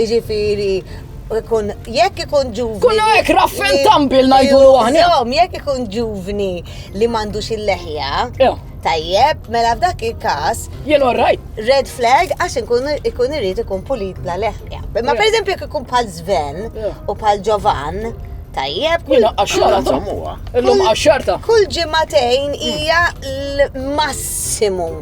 Iġifiri, ikun, jekk ikun ġuvni. Kun għek raffen tambil najdu għahni. Jom, jekk ikun ġuvni li mandux il-leħja. Tajjeb, mela f'dak il-kas. Jien orrajt. Red flag għax ikun irrit ikun pulit bla leħja. Ma per eżempju jekk ikun pal Sven u pal Giovan. Tajjeb, kull għaxarta. Illum għaxarta. Kull ġimatejn hija l-massimu.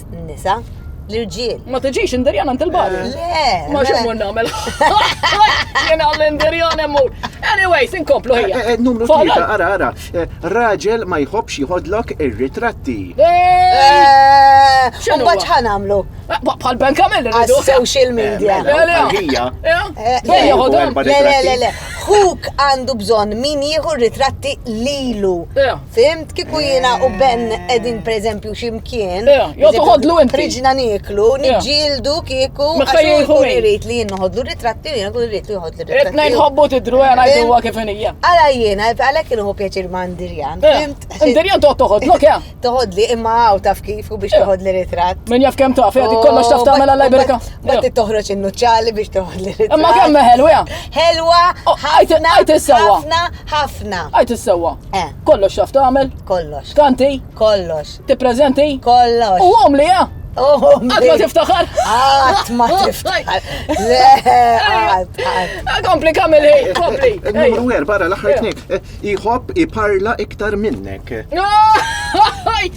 fost nisa l-irġiel. Ma tiġix indirjan għand il-bar. Eh, le. Ma xemur namel. Jena l-indirjan emmur. Anyway, sin komplu ħija. Eh, eh, numru tlieta, ara, ara. Raġel ma jħobx jħodlok ir-ritratti. Xinu baċ ħan għamlu? Bħal Ben Kamel rridu. Social media. Ħija. Le, le, le, le. Huk għandu bżon min jieħu ritratti lilu. Fimt, kiku jina u Ben edin per eżempju ximkien. Jo tuħodlu inti. Riġna niklu, nġildu kiku. Mekka jieħu irrit li jien noħodlu ritratti u jina kull irrit li joħodlu ritratti. Etna jħobbu tidru għana jdu għak ifinija. Għala jina, għala kienu hu pjaċir ma' Ndirjan. Fimt? Ndirjan toħod toħodlu kja? Toħodli imma għaw taf kif u biex toħodli ritratt. Min jaf kem taf, jgħati kollox taf tamela mela lajbrika. Ma ti toħroċ innuċċali biex toħodli ritratt. Imma kemm ħelwa? Ħelwa, ħajt ħafna, Ħafna. Għid is-sewwa. Eh. Kollox xaf tagħmel? Kollox. Kanti? Kollox. Tippreżenti? Kollox. U għom li eh? Għat ma tiftaħar? Għat ma tiftaħar. Le, għat, għat. Kompli kamil hej, kompli. Numru għer, barra l-axħar tnik. Iħob iparla iktar minnek.